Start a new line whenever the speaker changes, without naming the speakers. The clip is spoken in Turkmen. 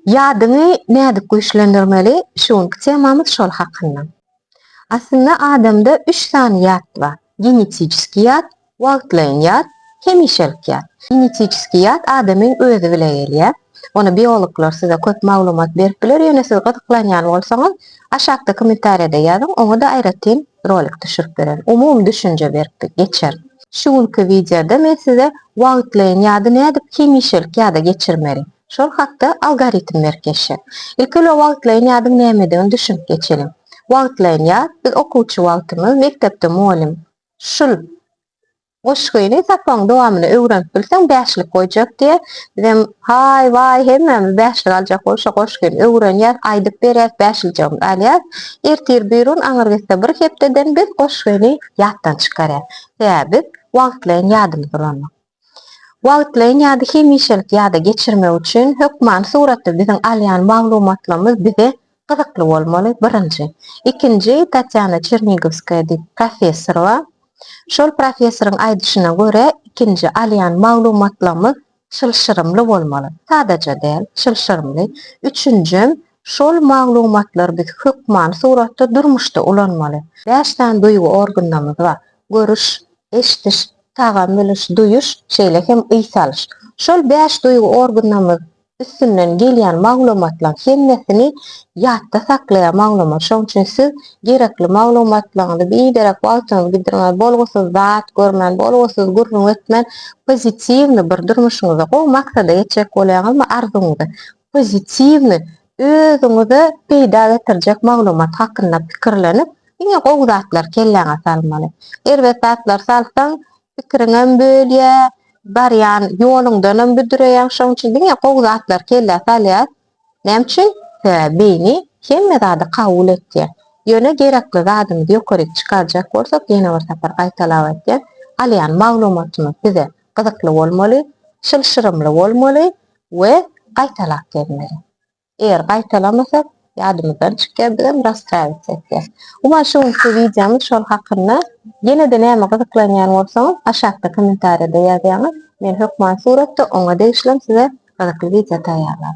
Ýadyňy nädip güýçlendirmeli, şu günki temamyz şol hakynda. Aslynda adamda üç sany ýat bar, genetiçeski ýat, wagtlaýyn ýat, hemişelik ýat. Genetiçeski ýat adamyň özi bile gelýär. Ony biologlar size köp maglumat berip biler, ýöne siz gyzyklanýan bolsaňyz aşakda kommentariýada ýazyň, oňa-da aýratyn Rolik düşürip bererin. Umumy düşünje berip geçerin. Şu günki wideoda men size wagtlaýyn ýady nädip hemişelik ýada geçirmeli. Şol hakda algoritm berip geçjek. Ilki bilen wagtlaýyn ýadyň nämedigini düşünip geçeliň. Wagtlaýyn ýat, biz okuwçy wagtymyz, mekdepde mugallym şul Goşgyny sapagyň dowamynda öwrenip bilseň bäşlik goýjak diýä. Bizem haý waý hemmämiz bäşlik aljak bolup şo goşgyny öwrenýäs, aýdyp berýäs, bäşiljegimizi alýas. Ertir birun aňyr gitse bir hepdeden biz goşgyny ýatdan çykarýas. Sebäbi biz wagtlaýyn ýadymyz ulanmak. Wagtlaýyn ýady hemişelik ýada geçirmek üçin hökmany suratda biziň alýan maglumatlarymyz bize Gyzykly bolmaly, birinji. Ikinji, Tatýana Çernigowskaýa diýip professor bar. Şol professoryň aýdyşyna görä, ikinji alýan maglumatlarymyz çylşyrymly bolmaly. Sadaja däl, çylşyrymly. Üçünjem, şol maglumatlary biz hökmany suratda durmuşda ulanmaly. Bäş sany duýgy organymyz bar. Görüş, eşdiş, tagam bilyş, duýuş, şeýle hem yý salyş. Şol bäş duýgy organymyz üstünden gelýän maglumatlaň hemmesini ýatda saklaýar maglumat şoň üçin siz gerekli maglumatlaňyzy biderek wagtyňyzy gidirmän bolgusyz zat görmän bolgusyz gürrüň etmän pozitiwny bir durmuşyňyza gowy maksada ýetjek bolýaňyzmy arzuwyňyza pozitiwny özüňize peýda getirjek maglumat hakynda pikirlenip diňe gowy zatlary kelläňe salmaly erbet zatlary salsaň Pikiriňem bölýä, barýan ýoluňdanam büdreýäň. Şoň üçin diňe gowy zatlary kellä salýas. Näme üçin? Sebäbi beýni hemme zady kabul etýär. Ýöne gerekli zadymyzy ýokaryk çykarjak bolsak, ýene bir sapar gaýtalap aýtýan, alýan maglumatymyz bize gyzykly bolmaly, çylşyrymly bolmaly we gaýtalap gelmeli. Eger gaýtalamasak ýadymyzdan çykýardigem rast häzirçe etýäs. Umuman şu günki wideomyz şol hakynda. Ýenede nämä gyzyklanýan bolsaňyz aşakda kommentariýada ýazýaňyz men hökman suratda oňa degişlem size gyzykly wideo taýýarlap.